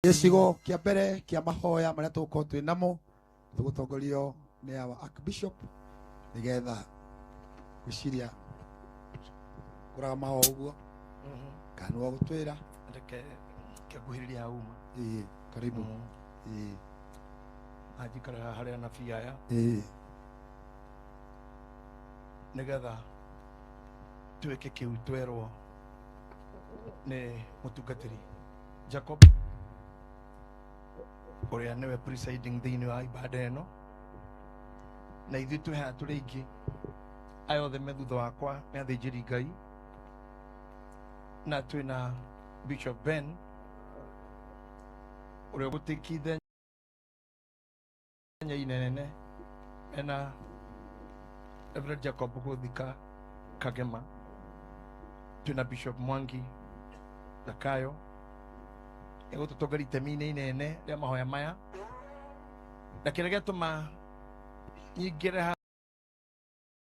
gicigo kia mbere kia mahoya maria tugukorwo twi namo tugutongorio ni our archbishop nigetha gwiciria kuraga maho uguo kana no gutwira reke ngĩkuhĩrĩria hauma ii karibu ĩĩ anjikare haha harĩa anabii aya ĩĩ nĩgetha twĩke kĩu twerwo nĩ mũtungatĩri jacob ũrĩa nĩwe presiding thĩinĩ wa ibada ĩno na ithuĩ twĩ haha tũrĩ aingĩ aya othe me thutha wakwa nĩ athĩnjĩri ngai na twĩ na bishop ben ũrĩa gũtĩkithenya inene mena Reverend Jacob Gũthika Kagema twĩna Bishop Mwangi Zakayo egũtũtongoria itemi-inĩ inene rĩa mahoya maya na kĩrĩa gĩatũma nyingĩre haha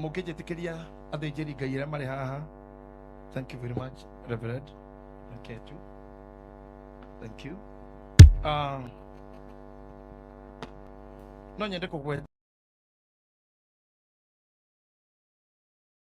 mũngĩnjĩtĩkĩria athĩnjĩri ngai arĩa marĩ haha thank you very much reverend okay, too. thank you uh, no nyende kũgweta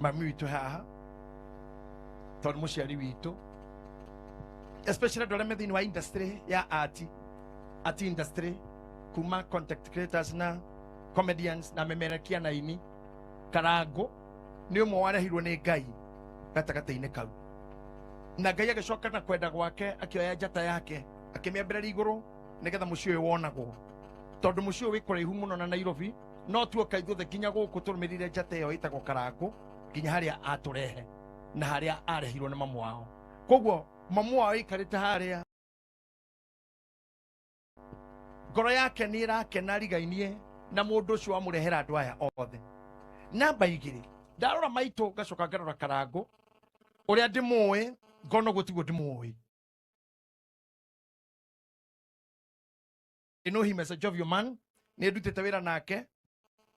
mami witå e haha tondå må ciari witå especially andå arä a me thä inä wa industry ya ati ati industry kuma content creators na comedians na memerekia na ini karangå nä å mwe warehirwo nä ngai gatagatä-inä kau na ngai agĩcoka na kwenda gwake akĩoya njata yake akĩmĩambĩrĩria igũrũ nĩgetha mũciĩ ũyũ wonagwo tondũ mũciĩ ũyũ wĩ kũraihu mũno na nairobi no tuoka ithuothe nginya gũkũ tũrũmĩrĩire njata ĩyo ĩtagwo karangũ nginya harĩa atũrehe na harĩa arehirwo nĩ mamu wao koguo mamu wao ĩikarĩte harĩa ngoro yake nĩ ĩrakena rigainie na mũndũ ũcio wamũrehera andũ aya othe namba igĩrĩ ndarora maitũ ngacoka ngarora karangũ ũrĩa ndĩmũĩ ngona ũguo tiguo ndĩmũĩ I know him as a jovial man. Nĩ ndutĩte wĩra nake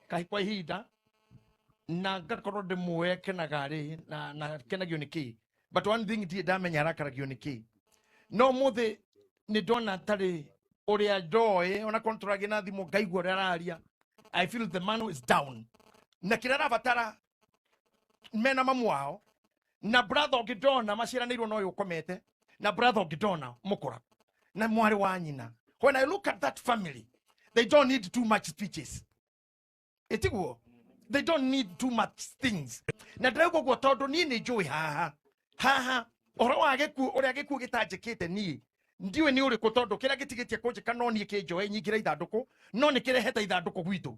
kahi kwa ihinda na ngakorwo ndĩmũĩ akenaga rĩ na na akenagio nĩ kĩĩ but one thing ndiĩ ndamenya arakaragio nĩ kĩĩ no mũthĩ nĩ ndona atarĩ ũrĩa ndoĩ ona korwo tũragia na thimũ ngaigua ũrĩa araria i feel the man is down na kĩrĩa arabatara mena mamu wao na brother ũngĩ ndona maciaranĩirwo na ũyũ ũkomete na brother ũngĩ ndona mũkũra na mwarĩ wa nyina when i look at that family they don't need too much speeches ĩtiguo they don't need too much things na ndĩrauga ũguo tondũ niĩ nĩ njũĩ haha haha ũhoro wa gĩkuũ ũrĩa gĩkuũ gĩtanjĩkĩte niĩ ndiũĩ nĩ ũrĩkũ tondũ kĩrĩa gĩtigĩtie kũnjĩka no niĩ kĩnjoe nyingĩre ithandũkũ no nĩ kĩrehete ithandũkũ gwitũ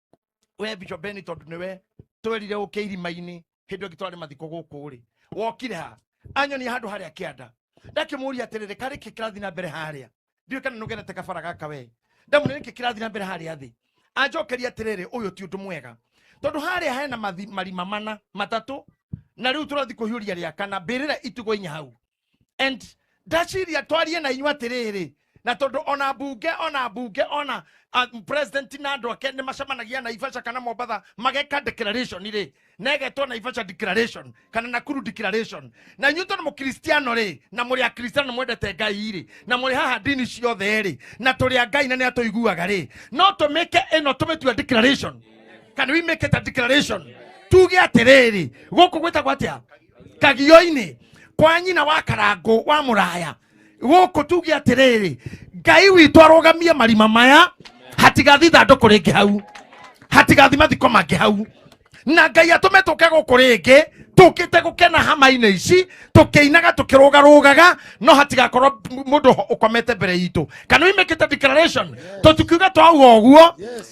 we bishop beni tondu niwe twerire uke irima-ini hindu ingi twarari mathiko guku ri wokire ha anyonia handu haria kianda ndakimuria atiriri kari ki kirathi na mbere haria ndiu kana nugenete kabara gaka we ndamune niki kirathi na mbere haria thi anjokeria atiriri uyu ti undu mwega tondu haria hena mathi- marima mana matatu na riu turathi kuhiuria ria kana mbirira itugo inya hau and ndaciria twarie na inyuĩ atĩrĩrĩ na tondũ ona mbunge ona mbunge ona ah, president na andũ ake nĩ macemanagia naibaca kana mombatha mageka declaration rĩ na ĩgetwo naibaca declaration kana nakuru declaration na inyuĩ tondũ mũkristiano rĩ na mũrĩ akristiano mwendete ngai rĩ na mũrĩ haha ndini ciothe rĩ na tũrĩ a ngai na nĩ atũiguaga rĩ no tũmĩke ĩno tũmĩtua declaration kana we make it a declaration tuge atĩrĩrĩ gũkũ gwĩtagwo atĩa kagio-inĩ kwa nyina wa karangũ wa mũraya gũkũ tuge atĩrĩrĩ ngai witũ arũgamie marima maya hatigathi ithandũkũ rĩngĩ hau hatigathi mathiko mangĩ hau na ngai atũme tũke gũkũ rĩngĩ tũkĩte gũkena hama-inĩ ici tũkĩinaga tũkĩrũgarũgaga no hatigakorwo mũndũ ũkomete mbere itũ kana we make it a declaration tũtikiuga twauga ũguo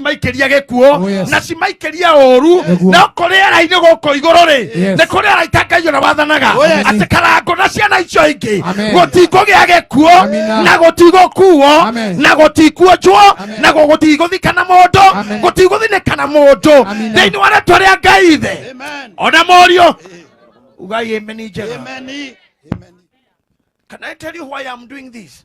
cimaikĩria gĩkuũ Oh, yes. na cimaikĩria ũru Nĩguo. no kũ rĩera-inĩ gũkũ igũrũ rĩ Yes. nĩ kũ rĩera itangaio na wathanaga Oh, yes. atĩ karango na ciana icio ingĩ Amen. gũtikũgĩa gĩkuũ Amina. na gũtigũkuo Amen. na gũtikuonjwo Amen. na gũtigũthika na mũndũ Amen. gũtigũthinĩka na mũndũ Amina. thĩinĩ wa rĩtwa rĩa ngai ithe Amen. ona mũriũ ugai ameni njega Amen. Amen. can i tell you why i'm doing this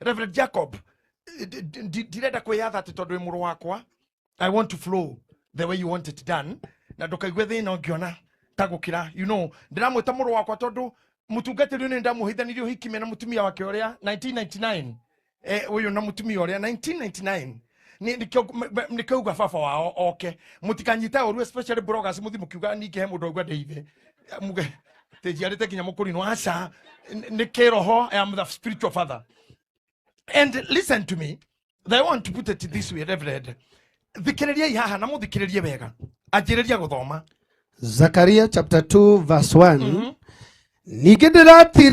reverend jacob eh, d- d- d- ndirenda kwĩyatha atĩ tondũ wĩ mũrũ wakwa i want to flow the way you want it done na ndũkaigue thĩna ũngĩona ta gũkĩra you know ndĩramwĩta mũrũ wakwa tondũ mũtungatĩri ũyũ nĩ ndamũhithanirie ũhiki me na mũtumia wake ũrĩa 1999 eh, ũyũ na mũtumia ũrĩa 1999 Ni- nikĩo m- m- nĩkĩo uga baba wao oke mũtikanyite ũru especially bloggers mũthi mũkiuga ningĩ he mũndũ augua ndeithe muge tĩnjiarĩte nginya mũkũri no aca N- nĩ kĩroho I am the spiritual father and listen to me I want to put it this way reverend thikĩrĩriai haha na mũthikĩrĩrie wega anjĩrĩria gũthoma Zakaria chapter 2 verse 1 ningĩ ndĩratira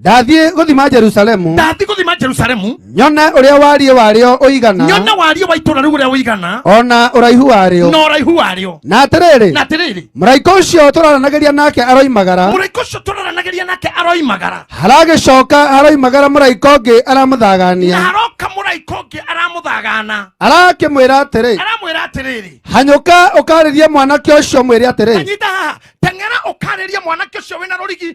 ndathiĩ gũthima jerusalemu ndathiĩ gũthima jerusalemu nyone ũrĩa wariĩ warĩo ũigana nyone wariĩ wa itũũra rĩu ũrĩa ũigana o na ũraihu warĩo na ũraihu warĩo na atĩrĩrĩ na atĩrĩrĩ mũraika ũcio tũraranagĩria nake aroimagara mũraika ũcio tũraranagĩria nake aroimagara haragĩcoka haroimagara mũraika ũngĩ na aramũthagania haroka mũraika ũngĩ aramũthagana arakĩmwĩra atĩrĩ aramwĩra atĩrĩrĩ hanyũka ũkarĩrie mwanake ũcio mwĩre atĩrĩ anyita haha teng'era ũkarĩrie mwanake ũcio wĩna rũrigi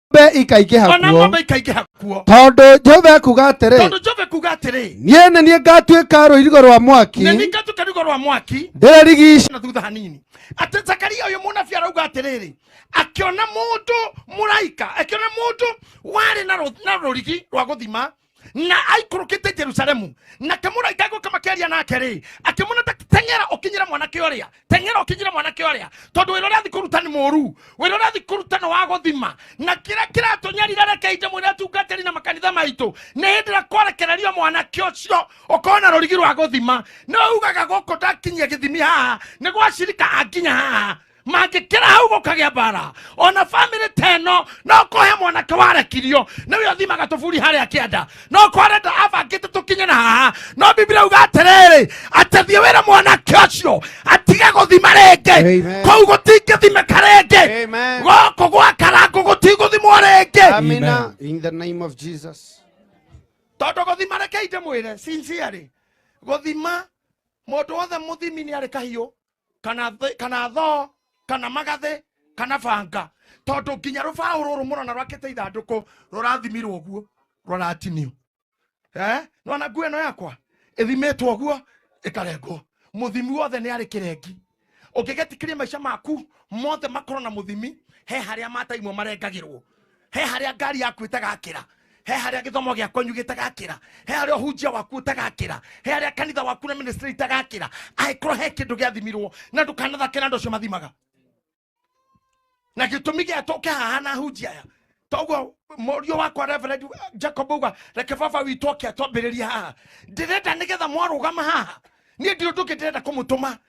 ng'ombe ikaingĩha ona kuo ng'ombe ikaingĩha kuo tondũ jehova ekuga atĩrĩ tondũ jove kuga atĩrĩ niĩ nĩ niĩ ngatuĩka rũirigo rwa mwaki nĩ ningatuka rigo rwa mwaki ndĩrarigiica na thutha hanini atĩ zakaria ũyũ mũnabi arauga atĩrĩrĩ akĩona mũndũ mũraika akĩona mũndũ warĩ na rũ- na rũrigi rwa gũthima na aikũrũkĩte jerusalemu na kĩmũraika gũka makĩaria nake rĩ akĩmwona ta teng'era ũkinyĩre mwanake ũrĩa teng'era ũkinyĩre mwanake ũrĩa tondũ wĩra ũrĩa athi kũruta nĩ mũru wĩra ũrĩa athi kũruta nĩ wa gũthima na kĩrĩa kĩratũnyarira reke inje mwĩra tungatĩri na makanitha maitũ nĩ hĩndĩ ĩrĩa kwarekererio mwanake ũcio ũkorwo na rũrigi rwa gũthima nĩ ugaga gũkũ ndakinyia gĩthimi haha nĩ gwacirika anginya haha mangĩkĩra hau gũkagĩa mbara ona bamĩrĩ ta ĩno no kũhe mwanake warekirio nĩwe ũthimaga tũburi harĩa kĩanda no kwarenda abangĩte tũkinye na haha no biblia uga atĩrĩrĩ atethie wĩra mwanake ũcio atige gũthima rĩngĩ Amen. kũu gũtingĩthimĩka rĩngĩ Amen. gũkũ gwakarangũ gũtigũthimwo rĩngĩ Amina. In the name of Jesus. tondå gå thima rekei ndä mwä re sincerely gå thima må ndå wothe må thimi nä arä kahiå kana thĩ- kana thoo kana magathĩ kana banga tondũ nginya rũbaũ rũrũ mũrona rwakĩte ithandũkũ rũrathimirwo ũguo rũratinio eh? nona nguo ĩno yakwa ĩthimĩtwo ũguo ĩkarengwo mũthimi wothe nĩ arĩ kĩrengi ũngĩgetikĩria maica maku mothe makorwo na mũthimi he harĩa mata imwe marengagĩrwo he harĩa ngari yaku ĩtagakĩra he harĩa gĩthomo gĩa kwanyu gĩtagakĩra he harĩa ũhunjia waku ũtagakĩra he harĩa kanitha waku na ministry itagakĩra angĩkorwo he kĩndũ gĩathimirwo na ndũkanathake na andũ acio mathimaga na gĩtũmi gĩa tũke haha na hunjia aya toguo mũriũ wakwa reverend jacob uga reke baba witũ oke atwambĩrĩria haha ndĩrenda nĩgetha mwarũgama haha niĩ ndirĩ ũndũ ũngĩ ndĩrenda kũmũtũma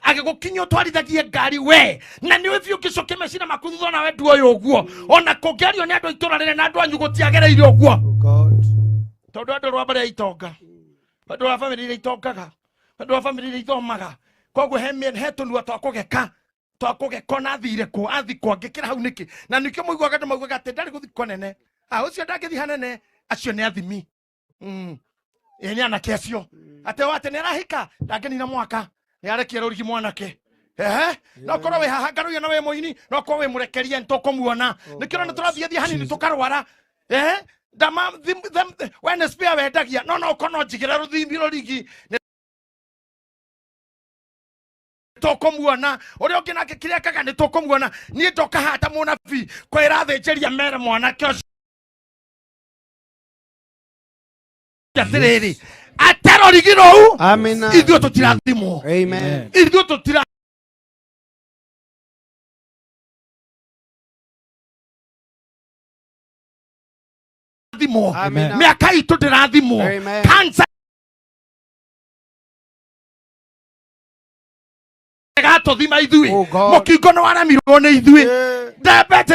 agĩgũkinya ũtwarithagie ngari we na nĩ ũthiĩ ũngĩcokia mecina maku thutha nawe nduoĩ ũguo ona kũngĩario nĩ andũ a itũra rĩrĩ na andũ anyu gũtiagereire ũguo Oh God. tondå andå rwa mbere itonga andå wa bamä rä irä itongaga andå wa bamä rä irä ithomaga koguo he mĩen- he tå nua twa kå geka twa kå geka na athire kå athikwo angä kä ra hau nä kä na nä kä må iguaga andå maugaga atä ndarä gå thikwo nene a å cio ndangä thiha nene acio nä athimi Mm. ä nä anake acio atä o atä nä arahika ndangä nina mwaka nä arekia rå rigi mwanake Ehe, no korwo wä haha ngarå na wä må ini no korwo wä må rekerie nä tå kå muona nä kä rona tå rathiä thiä hanini tå karwara Ehe, ndama thim- them- we nä spare wendagia no no korwo no njigä ra rå thimbi rå rigi nĩ tũkũmuona ũrĩa ũngĩ nake kĩrĩa kaga nĩ tũkũmuona niĩ ndoka hata mũnabii kwĩra thĩnjĩria mere mwanake ũcio atĩrĩrĩ atarorigirwo u ithuĩ tũtirathimwo ithuĩ tũtira thimwo mĩaka itũ ndĩrathimwo kansa gatũthima ithuĩ oh, mũkingo nĩ waremirwo nĩ ithuĩ ndembete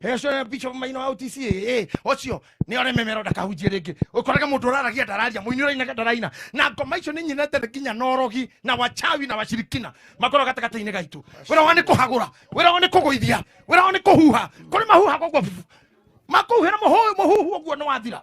Hecora bicho maino wa OTC eh ocio ni ore memero ndakahunjie ringi ukoraga mundu uraragia ndararia muini uraina ndaraina na ngoma icio ni nyinete thĩ nginya na ũrogi na wachawi na washirikina makorwo gatagata-inĩ gaitũ wĩra wa nĩ kũhagũra wĩra wa nĩ kũgũithia wĩra wa nĩ kũhuha kũrĩ mahuha koguo makuhuhĩra mũhuhu ũguo nĩ wathira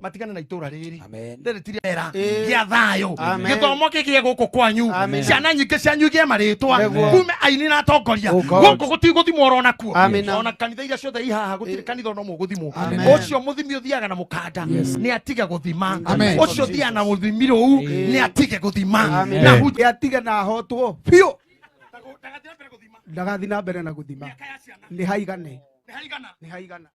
matigane na itũra rĩrĩ Amen. rĩrĩ ti rĩera Ĩĩ. gĩa thayũ Amen. gĩthomo kĩgĩe gũkũ kwanyu Amen. ciana nyingĩ cianyu igĩe marĩtwa Nĩguo. kume aini na atongoria Oh, God. gũkũ gũtigũthimwo oro nakuo Amen. ona kanitha iria ciothe ihaha gũtirĩ kanitha ona ũmwe ũgũthimwo Amen. ũcio mũthimi ũthiaga na mũkanda nĩ atige gũthima Amen. ũcio ũthiaga na mũthimi rũu nĩ atige gũthima Amen. na hu- Nĩ atige na ahotwo biũ ndagathiĩ na mbere na gũthima nĩ haigane nĩ haigana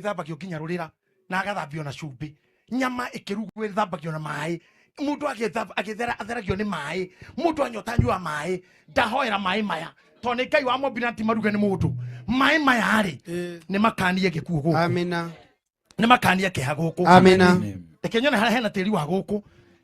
ithambagio nginya rurira na agathambio na cumbĩ nyama ĩkĩrugwo ĩthambagio na maĩ mũndũ agĩtheragio nĩ maĩ mũndũ anyota nyua maĩ ndahoera maĩ maya tondũ nĩ ngai wa mombire na ti maruge nĩ mũndũ maĩ maya rĩ eh. nĩ makanie gĩkuũ gũkũ nä makania kä ha gå kå reke nyone harä hena tä ri wa gå kå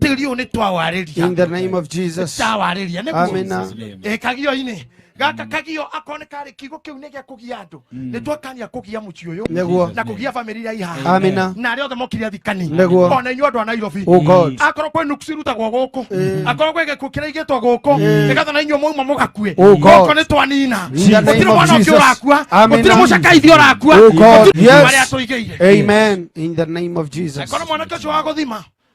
tĩri ũyũ nĩ twawarĩria In the name of Jesus. tawarĩria Amina. nĩguo Eh, kagio-inĩ gaka kagio akorwo nĩ karĩ kiugo kĩu nĩ gĩa kũgia andũ nĩ twakania kũgia mũciĩ ũyũ Nĩguo. na kũgia bamĩrĩ iria ihaha Amina. na arĩa othe mokire thikani Nĩguo. ona inyuĩ andũ a nairobi Oh God. akorwo kwĩ nuku cirutagwo gũkũ akorwo kwĩ gĩkuũ kĩraigĩtwo gũkũ nĩgetha na inyuĩ mwauma mũgakue Oh God. gũkũ nĩ twanina In the name gũtirĩ of mwana ũngĩ Jesus. ũrakua Amina. gũtirĩ mũcakaithi ũrakua Oh God. gũtirĩ Yes. marĩa tũigĩire Amen. In the name of Jesus. akorwo mwanake ũcio wa gũthima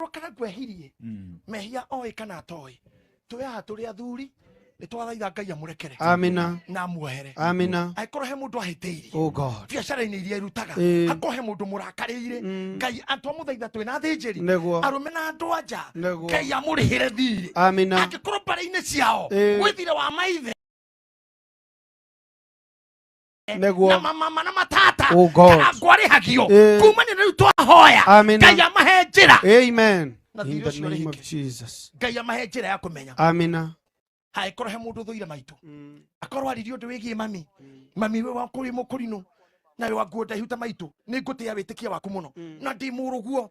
rokaga ngwehirie Mm. mehia oĩ kana atoĩ twĩ haha tũrĩ athuri nĩ twathaitha ngai amũrekere Amina. na amuohere Amina. angĩkorwo he mũndũ ahĩtĩirie Oh God. biacara-inĩ iria irutaga Ĩĩ. akorwo he mũndũ mũrakarĩire Mm. ngai atwa mũthaitha twĩ na thĩnjĩri Nĩguo. arũme na andũ anja Nĩguo. ngai amũrĩhĩre thiirĩ Amina. angĩkorwo mbarĩ-inĩ ciao Ĩĩ. gwĩthire wa maithe Nĩguo. na mamama na matata Oh, God. kana ngwarĩhagio Eh. kumania na rĩu twahoya Amina. ngai amahe njĩra Amen. Na In thirĩ the ũcio name rĩngĩ. of Jesus. ngai amahe njĩra ya kũmenya Amina. hangĩkorwo he mũndũ thũire maitũ Mm. akorwo aririe ũndũ wĩgiĩ mami mami we wakũrĩ mũkũrinũ nawe wanguo ndaihu ta maitũ nĩ ngũtĩa wĩtĩkia waku mũno na ndĩ mũrũguo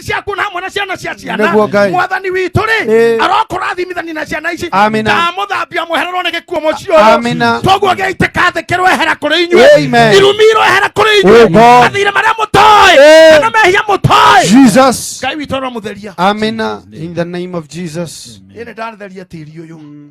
ciothe ciaku na hamwe na ciana cia ciana Nĩguo Ngai. mwathani witũ rĩ Ĩĩ. arokũrathimithania na ciana ici Amina. ndamũthambia mwehererwo nĩ gĩkuo mũciĩ ũyũ Amina. toguo gĩaitĩka thĩ kĩroehera kũrĩ inyuĩ Amen. irumi iroehera kũrĩ Oh, inyuĩ God. mathirĩ marĩa mũtoĩ Ĩĩ. kana mehia mũtoĩ Jesus. ngai witũ aromutheria Amina. In the name of Jesus. ĩnĩ ndatheria tĩri ũyũ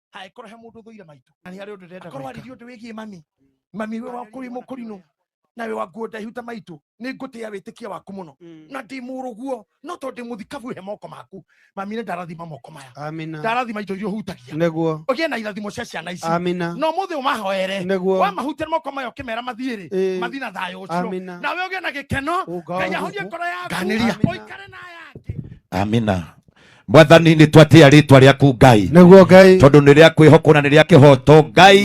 ha ikorwo he mundu thuire maitu na ni hari undu ndenda akorwo aririe undu wigie mami mami we wa kuri mukurinu na we wa nguo ndaihu ta maitu ni ngutia witikia waku muno mm. na ndi muruguo no to ndi muthikabu he moko maku mami ni ndarathima moko maya amina ndarathima indo iria hutagia neguo ugie na irathimo cia ciana ici amina no muthi umahoere neguo wa mahutia moko maya ukimera mathiiri eh. mathi na thayo ucio na we ugie na gikeno oh, ngai ahorie ngoro yaku uikare na yake amina mwathani nä twatä a rä twa rä aku ngai nĩguo ngai tondå nä rä a kwä hokwo na nä rä a kä hoto ngai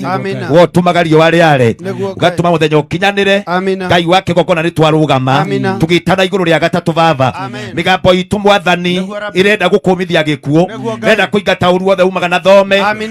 amina wotumaga riũa rĩare Nĩguo Ngai. ũgatũma mũthenya ũkinyanĩre amina ngai wa kĩgongona nĩ twarũgama Amina. tũgĩtana igũrũ rĩa gatatũ baba Amen. mĩgambo itũ mwathani Nĩguo Rabbi. ĩrenda gũkũmithia gĩkuũ Nĩguo Ngai. ĩrenda kũingata ũru wothe umaga na thome Amina.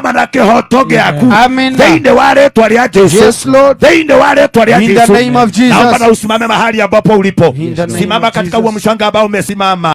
kuuma na kĩhoto gĩaku Amen. thĩinĩ wa rĩtwa rĩa jesu Yes, Lord. thĩinĩ wa rĩtwa rĩa In the jesu name of Jesus. naomba na usimame mahali ambapo ulipo In the name simama of katika Jesus. huo mshanga ambao umesimama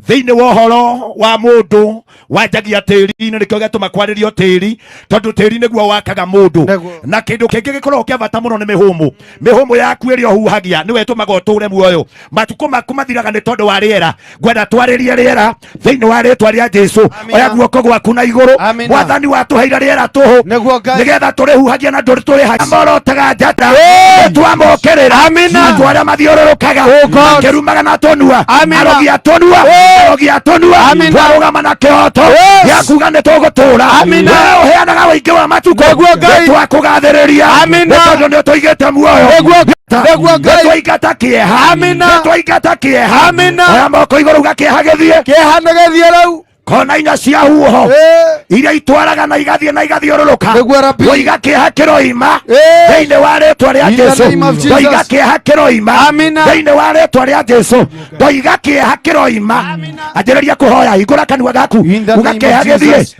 thĩinĩ wa ũhoro wa mũndũ wanjagia tĩri-inĩ nĩkĩo gĩatũma kwarĩrio tĩri tondũ tĩri nĩguo wakaga mũndũ Nĩguo. na kĩndũ kĩngĩ gĩkoragwo kĩa bata mũno nĩ mĩhũmũ mĩhũmũ yaku ĩrĩa ũhuhagia nĩwe ĩtũmaga ũtũũre muoyo matukũ maku mathiraga nĩ tondũ wa rĩera ngwenda twarĩrie rĩera thĩinĩ wa rĩtwa rĩa jesu Amina. oya guoko gwaku na igũrũ Amina. mwathani watũheire rĩera tũhũ Nĩguo Ngai- nĩgetha tũrĩhuhagia na ndũrĩ tũrĩhagia morotaga njata twamokĩrĩra Amina. andũ arĩa mathiũrũrũkaga makĩrumaga na tũnua Amina. arogi a tũnua arogi a tũnua Amina. twarũgama na kĩhoto Yes. gĩa kuga nĩ tũgũtũũra Amina. Wee ũheana na ũingĩ wa matukũ Nĩguo Ngai- nĩtwakũgathĩrĩria Amina. nĩ tondũ nĩũtũigĩte muoyo Nĩguo Ngai- Nĩguo Ngai- nĩtwaingata kĩeha Amina. nĩtwaingata kĩeha Amina. oya moko igũrũ uga kĩeha gĩthiĩ kĩeha nĩ gĩthiĩ rĩu kona inya cia huho Ĩĩ. iria itwaraga na igathiĩ na igathiũrũrũka Nĩguo Rabi. ũiga kĩeha kĩroima Ĩĩ. thĩinĩ wa rĩtwa rĩa In the jesu name of Jesus. ndũiga kĩeha kĩroima Amina. thĩinĩ wa rĩtwa rĩa jesu ndũiga kĩeha kĩroima anjĩrĩria kũhoya hingũra kanua gaku In the uga name kĩeha of gĩthiĩ Jesus.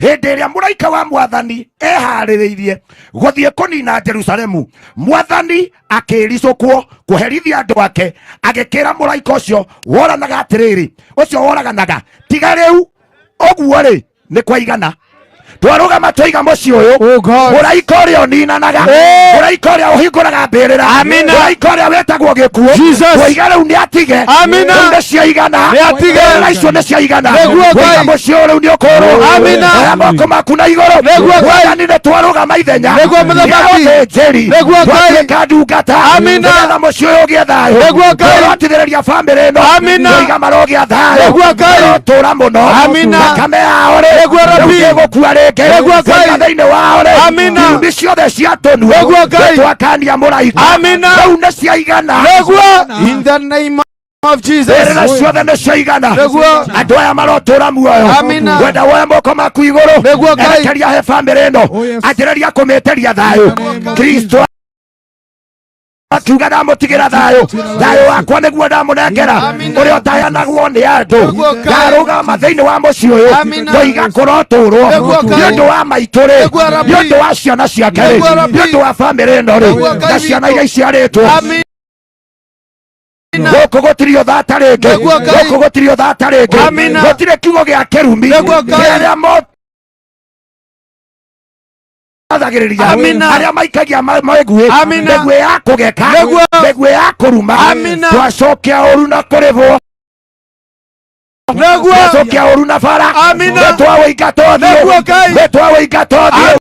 hĩndĩ ĩrĩa mũraika wa mwathani eharĩrĩirie gũthiĩ kũnina jerusalemu mwathani akĩricũkwo kũherithia andũ ake agĩkĩra mũraika ũcio woranaga atĩrĩrĩ ũcio woraganaga tiga rĩu ũguo rĩ nĩ kwaigana twarũgama tũiga mũciĩ ũyũ Oh God. mũraika ũrĩa ũninanaga Hey! mũraika ũrĩa ũhingũraga mbĩrĩra Amina. mũraika ũrĩa wĩtagwo gĩkuũ Jesus. koiga rĩu nĩ atige Amina. Rĩu nĩ ciaigana Nĩ atige. Mbĩrĩra icio nĩ ciaigana Nĩguo Ngai. koiga mũciĩ ũyũ rĩu nĩ ũkũrũga Amina. oya moko maku na igũrũ Nĩguo Ngai. wathani nĩ twarũgama ithenya Nĩguo mũthamaki. Nĩguo njĩri Nĩguo Ngai. twatuĩka ndungata Amina. nĩgetha mũciĩ ũyũ ũgĩe thayũ Nĩguo Ngai. tũrotithĩrĩria bamĩrĩ ĩno Amina. koiga marogĩa thayũ Nĩguo Ngai. tũra mũno Amina. thakame yao rĩ Nĩguo Rabbi. gũkua rĩngĩ Nĩguo Ngai. Koiga thĩinĩ wao rĩ Amina. Irumi ciothe cia tũnuo Nĩguo Ngai. twakania mũraika Amina. rĩu nĩ ciaigana Nĩguo. In the name of Jesus. rĩrĩra ciothe nĩ ciaigana Nĩguo. andå aya marotåra muoyo Amina. wenda woya moko maku igårå Nĩguo Ngai. erekeria he bamä rä ä no Oh, yes. anjä rä ria kå mä tä ria thayå Nĩguo Ngai. kristo akiuga ndamutigĩra thayũ thayũ wakwa nĩguo ndamũnengera ũrĩa ũtayanagwo nĩ andũ ndarũgama thĩinĩ wa mũciĩ ũyũ ngoiga kũrotũrwo nĩ ũndũ wa maitũ-rĩ nĩ ũndũ wa ciana ciake-rĩ nĩ ũndũ wa bamĩrĩ ĩno-rĩ na ciana iria iciarĩtwo gũkũ gũtirĩ ũthata rĩngĩ gũkũ gũtirĩ ũthata rĩngĩ gũtirĩ kiugo gĩa kĩrumi kĩrĩa athagĩrĩria Amina. arĩa maikagia ma- mĩguĩ Amina. mĩguĩ ya kũgeka Nĩguo. mĩguĩ ya kũruma Amina. twacokia ũru na kũrĩhwo Nĩguo. twacokia ũru na bara Amina. nĩtwawĩinga tothiĩ Nĩguo Ngai. nĩtwawĩinga tothiĩ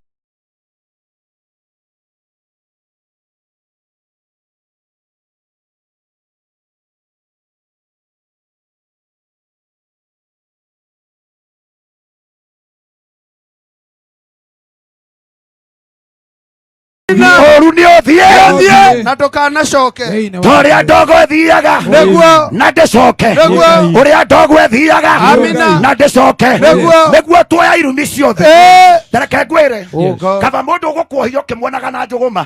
mũru nĩ ũthiĩ na ndũkanacoke Thĩinĩ wa tũrĩa ndogo ĩthiaga Nĩguo. na ndĩcoke Nĩguo. ũrĩa ndogo ĩthiaga Amina. na ndĩcoke Nĩguo. nĩguo tuoya irumi ciothe Ĩĩ. tareke ngwĩre Yes. kaba mũndũ ũgũkuohia ũkĩmuonaga na njũgũma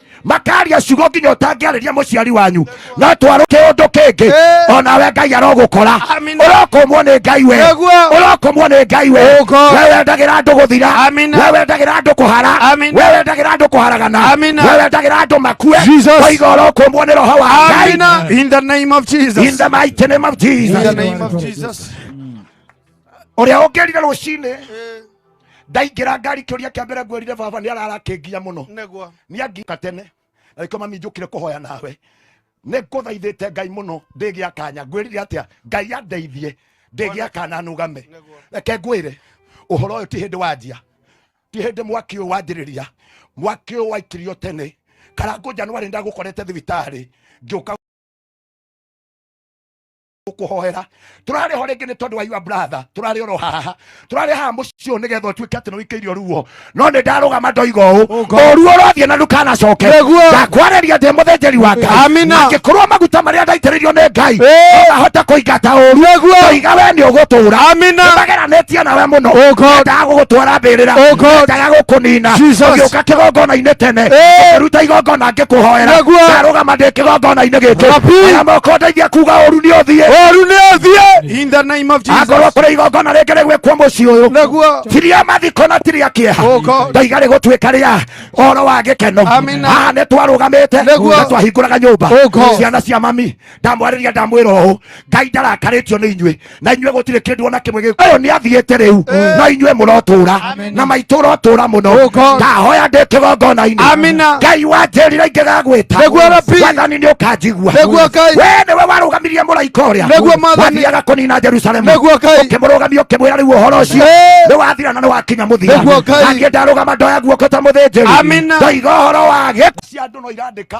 makaria ciugo nginya ũtangĩarĩria mũciari wanyu no twarũ kĩũndũ kĩngĩ eh. onawe ngai arogũkora ũrokomwo nĩ ngai we ũrokomwo nĩ ngai we we wendagĩra andũ gũthira we wendagĩra andũ kũhara we wendagĩra andũ kũharagana we wendagĩra andũ makue oiga ũrokomwo nĩ roho wa ngai in the name of jesus in the mighty name of jesus ũrĩa ũngĩrire rũcinĩ eh. ndaingĩra ngari kĩũria kĩa mbere ngwĩrire baba nĩ ararakĩngia mũno nĩguo nĩ angiuka tene na gĩkĩo mami njũkire kũhoya nawe nĩ ngũthaithĩte ngai mũno ndĩgĩa kanya ngwĩrire atĩa ngai andeithie ndĩgĩa kana nũgame nĩguo reke ngwĩre ũhoro ũyũ ti hĩndĩ wanjia ti hĩndĩ mwaki ũyũ wanjĩrĩria mwaki ũyũ waikirio tene karangũ njanwarĩ ndagũkorete thibitarĩ ngĩũka kuhoera turari ho ringi ni tondu wa your brother turari oro haha turari haha mucii uyu nigetha utuike ati ni wikeirio ruo no ni ndarugama ndoiga uu uru urathie na ndukanacoke ndakwariria ndi muthinjiri wa ngai angikorwo maguta maria ndaitiririo ni ngai ndahota kuingata uru ndoiga we ni ugutura nimageranitie nawe muno ndaga gugutwara mbirira ndaga gukunina ugiuka kigongona-ini tene ukiruta igongona ngĩkũhoera Naguo. ndarũgama ndĩ kĩgongona-inĩ gĩkĩ Rabi. aya moko ndeithia kuga ũru nĩ ũthiĩ ũru nĩ ũthiĩ in the name of akorwo Jesus kũrĩ igongona rĩngĩ rĩgwĩkwo mũciĩ ũyũ naguo tiria mathiko na tiria kĩeha Oh God. ndaiga rĩgũtuĩka rĩa ũhoro wa gĩkeno Amina. haha nĩ twarũgamĩte Nĩguo. na twahingũraga nyũmba Oh God. ciana cia mami ndamwarĩria ndamwĩra ũũ ngai ndarakarĩtio nĩ inyuĩ na inyuĩ gũtirĩ kĩndũ ona kĩmwe gĩkũ ũyũ nĩ athiĩte rĩu no inyuĩ mũrotũra na maitũ ũrotũra mũno ndahoya ndĩ kĩgongona-inĩ Amina. ngai wanjĩrire ingĩgagwĩta Nĩguo Rabi. wathani nĩ ũkanjigua Nĩguo Ngai. we nĩwe warũgamirie mũraika ũrĩa Nĩguo Mwathani. wathiaga kũnina jerusalemu Nĩguo Ngai. ũkĩmũrũgamia ũkĩmwĩra rĩu ũhoro ũcio Ĩĩ. nĩ wathira na nĩ wakinya mũthia Nĩguo Ngai. naniĩ ndarũgama ndoya guoko ta mũthĩnjĩri Amina. ndoiga ũhoro wa gĩkuũ cia andũ no irandĩka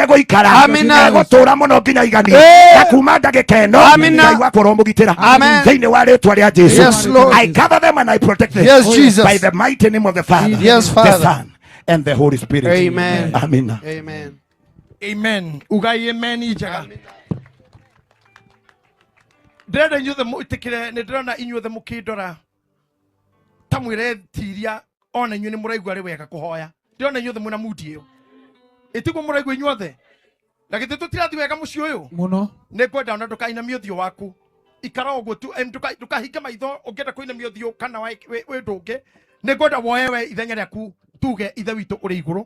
nĩatigĩte gũikara Amina. na egũtũũra mũno nginya igani Eh. na kuma ndagĩka ĩno Amina. Ngai wakwa ũromũgitĩra Amen. thĩinĩ wa rĩtwa rĩa jesu Yes, Lord. i cover them and i protect them Yes, Jesus. by the mighty name of the father Yes, the Father. son and the holy spirit Amen. amina Amen. amen ugai amen njega ndĩrenda inyuothe mwĩtĩkĩre nĩ ndĩrona inyuothe mũkĩndora ta mwire tiria ona inyuĩ nĩ mũraigua rĩ wega kũhoya ndĩrona inyuothe mwĩna mudi ĩyo ĩtiguo mũraigua inyuothe na githĩ tũtirathi wega mũciĩ ũyũ muno nä ngwenda ona ndåkainamia å thiå waku ikara å guo tu em, ndũka- ndũkahinge maitho å ngä enda kå inamia å thiå kana wä ndå ngä nä ngwenda woe we ithenya rä aku tuge ithe witå å rä igå rå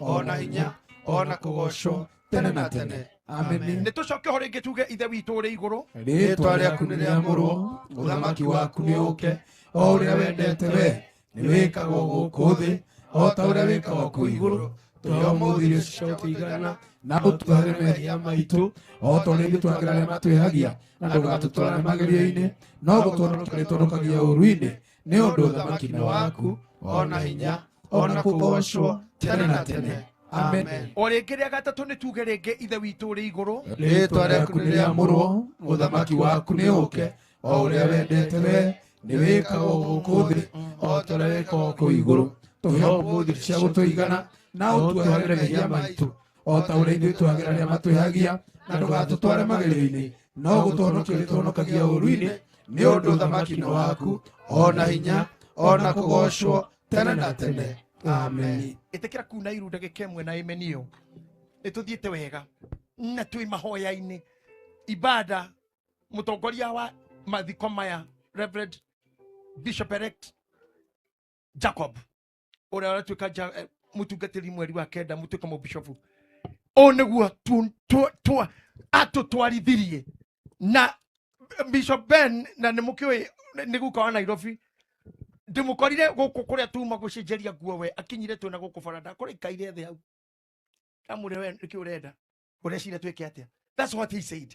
ona hinya ona kũgocwo tene na tene ameni nĩ tũcoke ho rĩngĩ tuge ithe witũ ũrĩ igũrũ rĩtwa rĩaku nĩ rĩamũrwo ũthamaki waku nĩ ũke o ũrĩa wendete we nĩ wĩkagwo gũkũ thĩ o ta ũrĩa wĩkagwo kũ igũrũ tũrĩ o mũthĩ irio ciao tũigana na ũtuagĩre mehia maitũ o ta ũrĩa ithuĩ tuagĩra arĩa matwĩhagia na ndũgatũtwarane magerio-inĩ no gũtũhonokia nĩ tũhonokagia ũru-inĩ nĩ ũndũ ũthamaki-inĩ waku o na hinya o na kũgoocwo tene na tene amen o rĩngĩ rĩa gatatũ nĩ tuge rĩngĩ ithe witũ ũrĩ igũrũ rĩĩtwa rĩaku nĩ rĩamũrwo ũthamaki waku nĩ ũke o ũrĩa wendete we nĩ wĩkagwo gũkũ thĩ o ta ũrĩa wĩkagwo kũu igũrũ tũhe ũmũthĩ cia gũtũigana na ũtuohagĩre mehia maitũ o ta ũrĩa ithuĩ twagĩra arĩa matwĩhagia na ndũgatũtware magerio-inĩ no gũtũhonokia ũrĩtũhonokagia ũru-inĩ nĩ ũndũ ũthamaki nĩ waku o na hinya o na kũgocwo tene na tene amen ĩtĩkĩra kuna iru ndagĩka ĩmwe na ĩmeni ĩyo ĩtũthiĩte wega na twĩ mahoya-inĩ ibada mũtongoria wa mathiko maya reverend bishop elect jacob ũrĩa aratuĩka nja- eh, mũtungatĩri mweri wa kenda mũtuĩke mũbishobu ũũ nĩguo tu- tu- tu- atũtwarithirie na bishop ben na nĩ mũkĩũĩ nĩ guka wa nairobi ndĩmũkorire gũkũ kũrĩa tuma gũcenjeria nguo we akinyire twĩna gũkũ baranda kũrĩa ikaire thĩ hau ndamwĩre we nĩkĩ ũrenda ũrecira twĩke atĩa that's what he said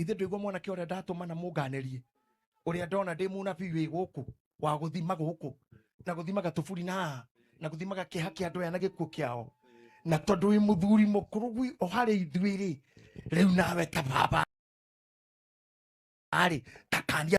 ithe ndũigua mwanake ũrĩa ndatũmana mũnganerie ũrĩa ndona ndĩ mũnabii wĩ gũkũ wa gũthima gũkũ na gũthimaga tũburi na haha na gũthimaga kĩeha kĩa andũ aya na gĩkuũ kĩao na tondũ wĩ mũthuri mũkũrũ gwi o harĩ ithuĩ rĩ rĩu nawe ta baba arĩ takania